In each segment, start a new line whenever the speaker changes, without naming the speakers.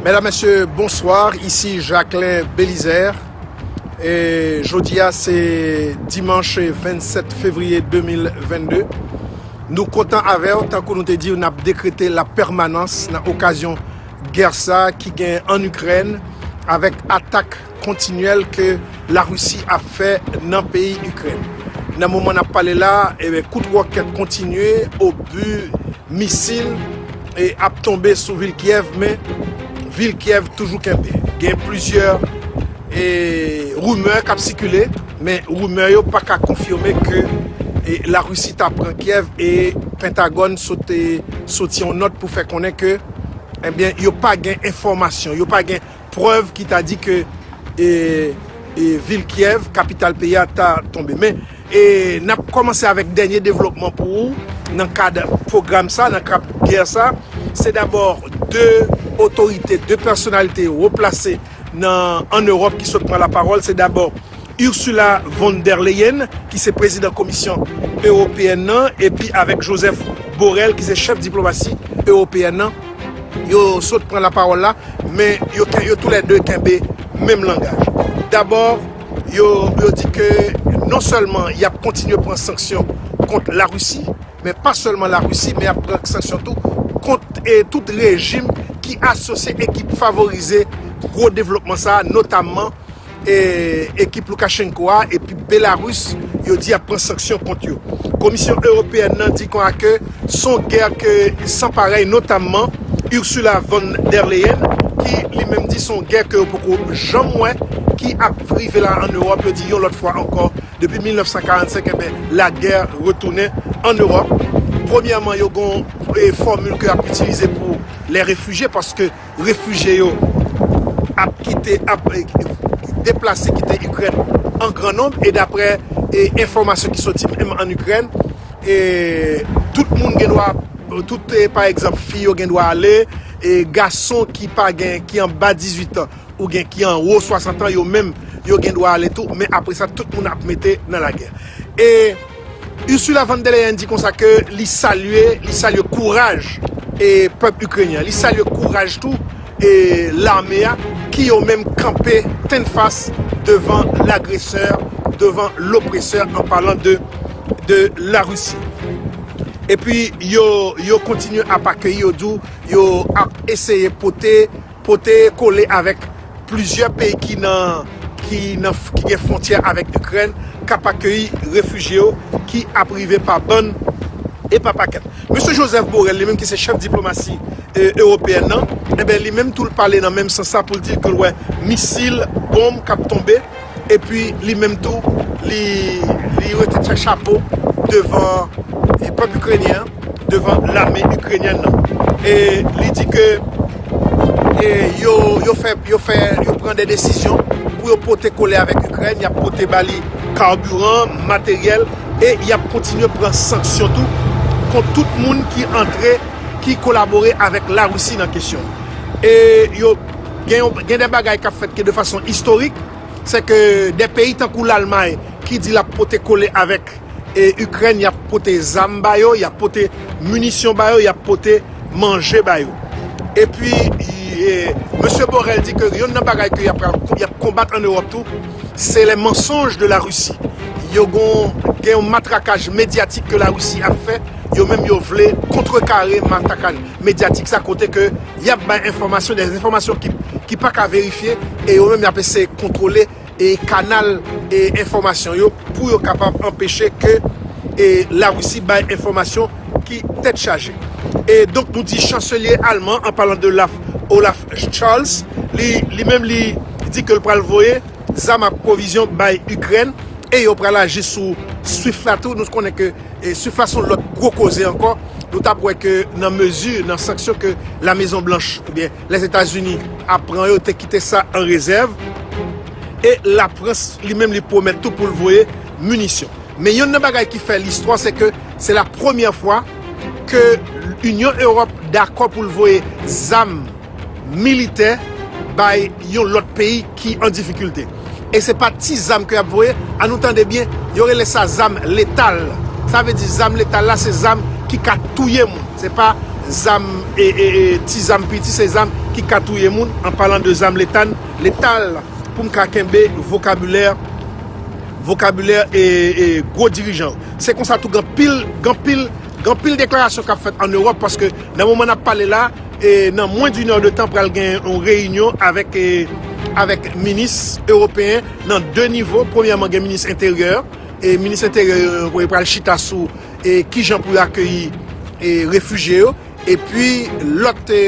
Medam mesye bonsoir isi Jacquelin Belizaire e jodi a se dimanche 27 fevrier 2022 nou kontan avèw tankou nou te diw nap dekrete la pèmanans nan okazyon gè sa ki gen an Ukraine avèk atak kontinyèl ke la Risi ap fè nan peyi Ikrèn. Nan moman nap pale la, kout ròkèt kontinye, obu, misil ap tonbe sou vil Kyèv men vil Kyèv toujou kenbe. Gen plizyè rumè kap sikile men rumè yo paka konfime ke la Risi ta pran Kyèv e Pentagòn sot soti yon nòt pou fè konnen ke yo pa gen enfòmasyon, yo pa gen prèv ki ta di ke vil Kiev, kapital peyi a, ta tonbe. Men, n ap kòmanse avèk dènye devlopman pou ou nan kad pwogram sa, nan kad gè sa. Se dabò 2 otorite, 2 pèsonalite wo plase an Ewòp ki sot pran lapawòl. Se dabò. Ursula von der Leyen ki se prezidan Komisyon Ewopeyèn nan epi avèk Josep Borrell ki se chèf diplomasi ewopeyèn nan, yo sot pran lapawòl la, men yo tou lè 2 kenbe menm langaj. Dabò, yo di ke non sèlman y ap kontinye pran sanksyon kont Larisi, men pa sèlman Larisi, men y ap pran sanksyon tou kont tout rejim ki asosye e ki favorize gwo devlopman sa a, notamman. ekip Lukashenko a epi Belarus yo di ap pran sanksyon kont yo. Komisyon Ewopeyèn nan di kon a ke son gè ke san parèy notamman Ursula von der Leyen ki li menm di son gè ke yo poko janm wè ki ap rive la an Ewòp yo di yon lòt fwa ankò depi 1945 enben lagè retounen an Ewòp. Premyèman yo gon fòmil ke yap itilize pou lè refijye paske. Refijye yo ap kite, ap deplase kite Ikrèn an gran nonb e daprè enfòmasyon ki soti menm an Ikrèn, tout moun gen dwa, tout pa egzanp fi yo gen dwa ale, gason ki pa gen, ki anba 18 an ou gen ki anwo 60 an yo menm yo gen dwa ale tou men apre sa tout moun ap mete nan lagè. Ursula von der Leyen di konsa ke li salye, li salye kouraj e pèp Ikrenyen an, li salye kouraj tou e lame a ki yo menm kanpe tennfas devan lagresè, devan lopresè an palan de de Larisi. Epi yo yo kontinye ap akeyi yo di w yo ap eseye pote Pote kole avèk plizyè peyi ki gen fwontyè avèk Ikrèn k ap akeyi refijye yo ki ap rive pa bann e pa pakèt. Mesye Josep Borrell li menm ki se chèf diplomasi ewopeyèn nan, enben li menm tou l pale nan menm sans la pou l di l ke l wè misil, bonm k ap tonbe. Epi li menm tou, li rete tchè chapo devan pèp Ikrenyen an, devan lame Ikrenyèn nan. E li di ke yo fè, yo fè, yo pran de desizyon pou yo pote kole avèk Ikrèn, y ap pote ba li karbiran, materyèl e y ap kontinye pran sanksyon tou kont tout moun ki antre, ki kolabore avèk Larisi nan kesyon. E yo. Gen yon gen de bagay kap fèt ki de fason istorik, se ke de peyi tankou Lalmay ki di lap pote kole avèk Ikrèn, yap pote zam ba yo, yap pote minisyon ba yo, yap pote manje ba yo. E pi Mesye Borrell di ke yonn nan bagay ke yap pral yap konbat an Ewòp tou, se les mensonges de la Russie. Yo gon gen yon matrakaj medyatik ke la Russie ap fè. yo menm yo vle kontrekare matakan medyatik sa kote ke y ap bay enfòmasyon, dè enfòmasyon ki pa ka verifye e yo menm y ap eseye kontwole kanal enfòmasyon yo pou yo kapab anpeche ke Larisi bay enfòmasyon ki tèt chaje. E donk nou di chanselye alman an palan de Olaf Scholz li menm li di ke l pral voye zam ak pwovizyon bay Ikrèn e yo pral aji sou Swift la tou nou konnen ke E sou fason lòt gwo koze ankò, nou t ap wè ke nan mezi, nan sanksyon ke La Mezon Blanch oubyen Lèzetazini ap pran yo te kite sa an rezèv. E Lafrans li menm li pwomèt tou pou l voye minisyon. Men yonn nan bagay ki fè listwa se ke se la premyè fwa ke Inyon Ewòp dakò pou l voye zam militè bay yon lòt peyi. ki an difikilte e se pa ti zam ke yap voye an nou tande byen yo rele sa zam letal sa vle di zam letal la se zam ki ka touye moun se pa zam ti zam piti se zam ki ka touye moun an palan de zam letal letal poum ka kenbe vokabilè vokabilè ee gwo dirijan yo se konsa tou gen anpil gen anpil gen anpil deklarasyon kap fèt an Europe paske nan moman nap pale la. E nan mwen d'une heure de tan pral gen yon reyinyon avèk avèk minis ewopeyen nan 2 nivo, premyèman gen minis enteryè e minis enteryè yo pral chita sou e kijan pou yo akeyi e refijye yo epi lòt e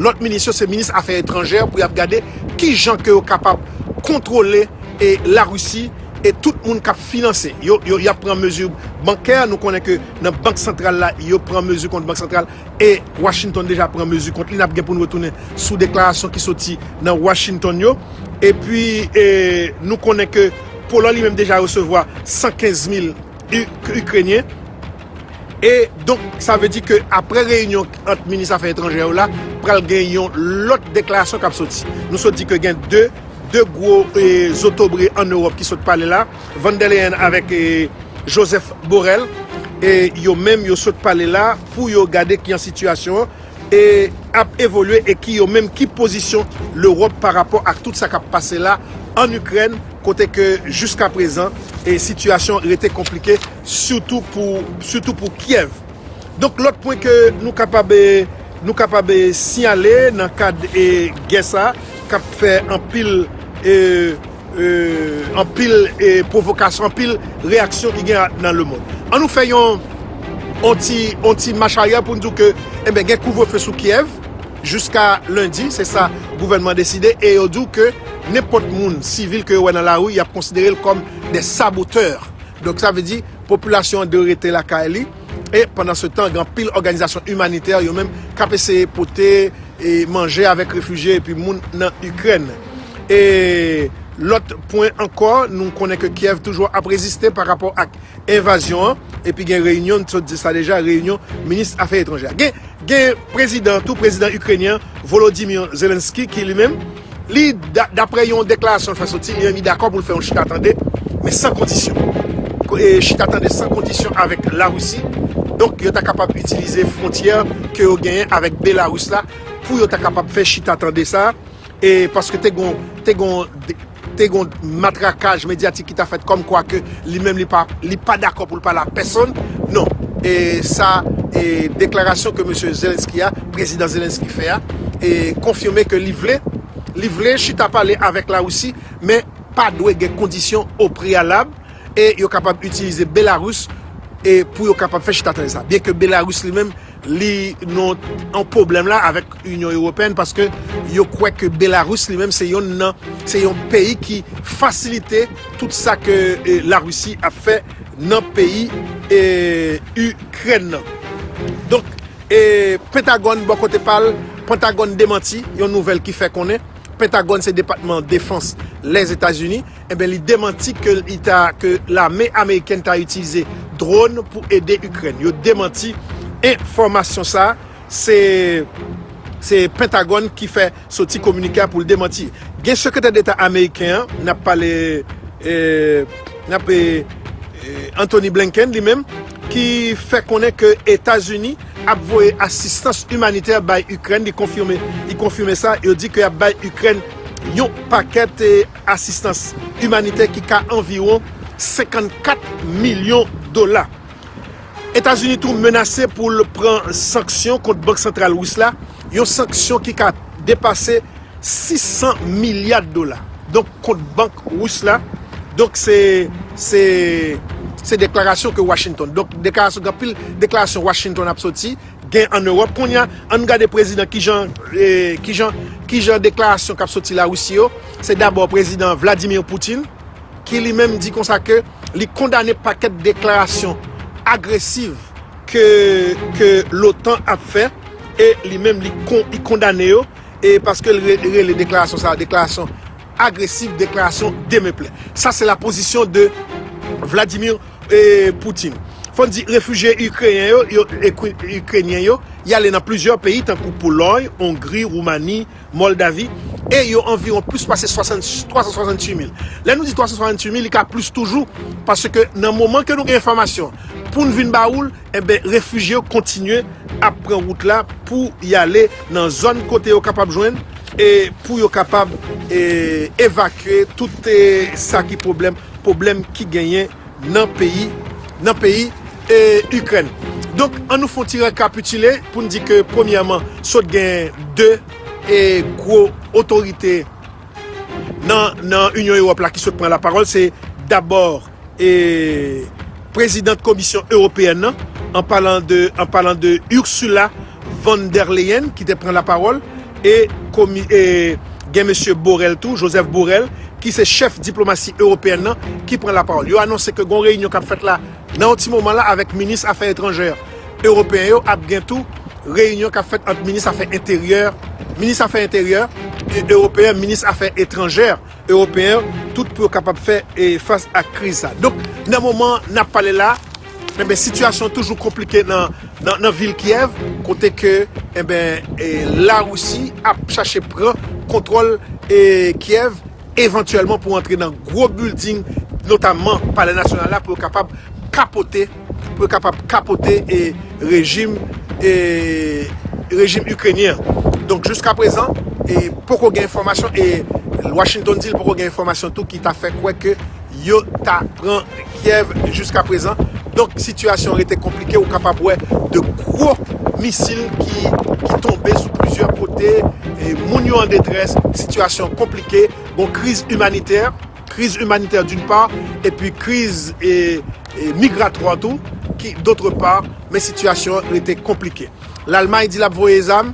lòt minis yo se minis afè etranjè pou y ap gade kijan ke yo kapab kontwole e larisi e tout moun k ap finanse yo yo y ap pran mezi bankè nou konnen ke nan bank santral la yo pran mezi kont bank santral. e Washington deja pran mezi kont li, n ap gen pou n retounen sou deklarasyon ki soti nan Washington yo, epi nou konnen ke Poland li menm deja resevwa 115 mil Ikrenyen, e donk sa vle di ke apre reyinyon ant minis afè etranjè yo la, pral gen yon lòt deklarasyon k ap soti. Nou sot di ke gen 2 gwo zotobre an Ewòp ki sot pale la, Van der Leyen avèk Joseph Borrell, e yo menm yo sot pale la, pou yo gade kijan sitiyasyon an ap evolye e ki yo menm ki pozisyon Lewòp pa rapò ak tout sa kap pase la ann Ikrèn kote ke jiska prezan sitiyasyon an rete konplike sitou pou Kyèv. Donk lòt pwen ke nou kapab nou kapab siyale nan kad gè sa kap fè anpil Anpil pwovokasyon, anpil reyaksyon ki gen nan lemond. An nou fè yon ti mach aryè pou n di w ke enben gen kouvrefe sou Kyèv jiska lendi, se sa gouvènman deside e yo di w ke nenpòt moun sivil ke yo wè nan lari y ap konsidere l kòm dè sabotè. Donk sa vle di popilasyon an dwe rete lakay li. E pandansetan, gen anpil òganizasyon imanitè yo menm k ap eseye pote manje avèk refijye epi moun nan Ikrèn. E lòt pwen ankò, nou konnen ke Kyèv toujou ap reziste pa rapò ak envazyon an, epi gen reyinyon, n sot di sa deja, reyinyon minis afè etranjè. Gen prezidan an tou, prezidan Ikrenyen an, Volodymyr Zelenskyy ki li menm, Li, daprè yon deklarasyon l fè soti, li anvi dakò pou l fè yon chita-tande, men san kondisyon. Chita-tande san kondisyon avèk Larisi, donk yo ta kapab itilize fwontyè ke yo genyen avèk Belaris la pou yo ta kapab fè chita-tande sa a, paske te gon matrakaj medyatik ki ta fèt kòmkwa ke Li menm li pa li pa dakò pou l pale ak pèsonn non e sa e deklarasyon ke mesye Zelensky a prezidan Zelensky fè a e konfime ke li vle li vle chita pale avèk Larisi men pa dwe gen kondisyon o preyalab e yo kapab itilize Belarus e pou yo kapab fè chita tande sa byenke Belarus li menm Li nou an pwoblèm la avèk Inyon Ewopèn paske yo kwè ke Belarus li menm se yonn nan se yon peyi ki fasilite tout sa ke Larisi ap fè nan peyi Ikrèn nan. Donk Pentagòn bò kote pa l, Pentagòn demanti yon nouvèl ki fè konnen, Pentagòn se depatman defans Lèzetazini, Enben li demanti ke li ta ke lame amerikèn ta itilize drone pou ede Ikrèn. Yo demanti enfòmasyon sa a. Se se Pentagòn ki fè soti kominike a pou l demanti. Gen sekretè deta ameriken an, n ap pale n ap Anthony Blinken li menm ki fè konnen ke Etazini ap voye asistans imanitè bay Ikrèn. Li konfime li konfime sa. Yo di ke y ap bay Ikrèn yon pakèt. Asistans imanitè ki ka anviwon 54 milyon dola. Etazini tou menase pou l pran sanksyon kont Bank Santral Ris la, yon sanksyon ki ka depase 600 milya dola. Donk kont bank Ris la. Donk se se deklarasyon ke Washington. Donk deklarasyon anpil deklarasyon Washington ap soti gen an Europe kounya ann gade prezidan kijan kijan kijan deklarasyon kap soti la Russie yo se dabò prezidan Vladimir Poutine ki li menm di konsa ke li kondane pakèt deklarasyon agresiv ke ke lotan ap fè e li menm li kon li kondane yo e paske li rele deklarasyon sa deklarasyon agresiv deklarasyon demeplè sa se la pozisyon de Vladimir Putin. Fò n di, refijye Ikreyen yo, yo, Ikrenyen yo, y ale nan plizyè peyi tankou Polòy, Ongri, Woumani, Mòldavi, e yo anviwon plis pase 368 mil. Lè nou di 368 mil, li ka plis toujou, paske nan moman ke nou gen enfòmasyon pou n vin ba ou l, Enben, refijye yo kontinye ap pran wout la pou y ale nan zòn kote yo kapab jwenn e pou yo kapab evakye tout sa ki pwoblèm, pwoblèm ki genyen nan peyi, nan peyi Ikrèn. Donk, an nou fè yon ti rekapitile pou n di ke premyèman, sot gen de gwo otorite nan Inyon Ewòp la ki sot pran lapawòl, se dabò. e Prezidant Komisyon Ewopeyèn nan, an palan de Ursula von der Leyen ki te pran lapawòl e gen Mesye Borrell tou, Joseph Borrell, ki se chèf diplomasi ewopeyèn nan ki pran lapawòl. Yo anonse ke gon reyinyon k ap fèt la nan yon ti moman la avèk minis afè etranjè ewopeyen yo, ap gen tou reyinyon k ap fèt ant minis afè enteryè, minis afè enteryè ewopeyen, minis afè etranjè. Ewopeyen yo tout pou yo kapab fè fas ak kriz sa. Donk, nan moman n ap pale la, enben sitiyasyon toujou konplike nan vil Kyèv, kote ke enben Larisi ap chache pran kontwòl Kyèv evantyèlman pou antre nan gwo bilding notamman Palè Nasyonal la pou yo kapab kapote pou yo kapab kapote rejim rejim Ikrenyen an. Donk jiska prezan poko gen enfòmasyon e Washington di l poko gen enfòmasyon tou ki ta fè kwè ke yo ta pran Kyèv jiska prezan. Donk sitiyasyon an rete konplike, ou kapab wè de gwo misil ki tonbe sou plizyè kote, moun yo an detrès, sitiyasyon an konplike, gon kriz imanitè. kriz imanitè doun pa, epi kriz migratwa tou ki dotre pa, men sitiyasyon an rete konplike. Lalmay di l ap voye zam,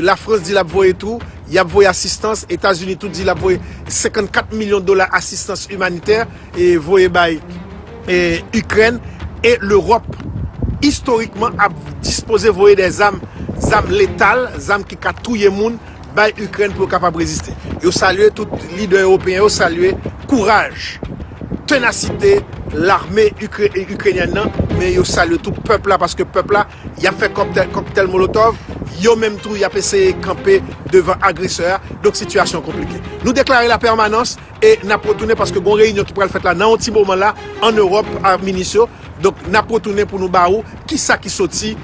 Lafrans di l ap voye tou, y ap voye asistans, Etazini tou di l ap voye 54 milyon dola asistans imanitè voye bay Ikrèn, e Lewòp istorikman ap dispoze voye dè zam, zam letal, zam ki ka touye moun. bay Ikrèn pou yo kapab reziste. Yo salye tout lidè ewopeyen yo salye kouraj, tenasite lame ikrenyèn nan men yo salye tou pèp la paske pèp la yap fè kòktèl molotòv yo menm tou yap eseye kanpe devan agresè a donk sitiyasyon an konplike. Nou deklare la pèmanans. E n ap retounen paske gon reyinyon ki pral fèt la nan yon ti moman la an Ewòp ak minis yo. Donk n ap retounen pou nou ba ou ki sa ki soti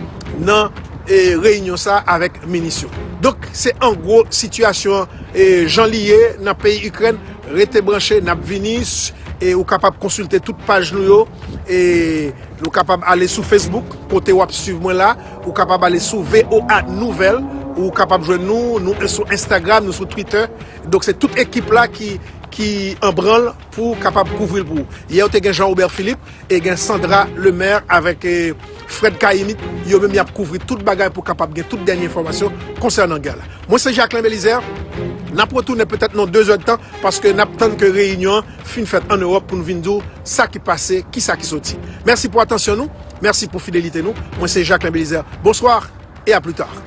nan reyinyon sa a avèk minis yo. Donk se an gwo sitiyasyon an jan li ye nan peyi Ikrèn. Rete branche, n ap vini. E ou kapab konsilte tout paj nou yo. E ou kapab ale sou Facebook kote w ap suiv mwen la. Ou kapab ale sou voa Nouvelles. Ou kapab jwenn nou. Nou sou Instagram, nou sou Twitter. Donk se tout ekip la ki an branl pou kapab kouvri l pou ou. Yè ou te gen Jean Robert Philippe e gen Sandra Lemaire avèk Fred Cahimit, yo menm y ap kouvri tout bagay pou kapab gen tout dènye enfòmasyon konsènan gè la. Mwen se Jacquelin Belizaire, n ap retounen petèt nan 2 zèdtan paske n ap tann ke reyinyon an fin fèt an Ewòp pou nou vin di ou sa ki pase, ki sa ki soti. Mèsi pou atansyon nou, mèsi pou fidelite nou. Mwen se Jacquelin Belizaire, bonsoir et à plus tard.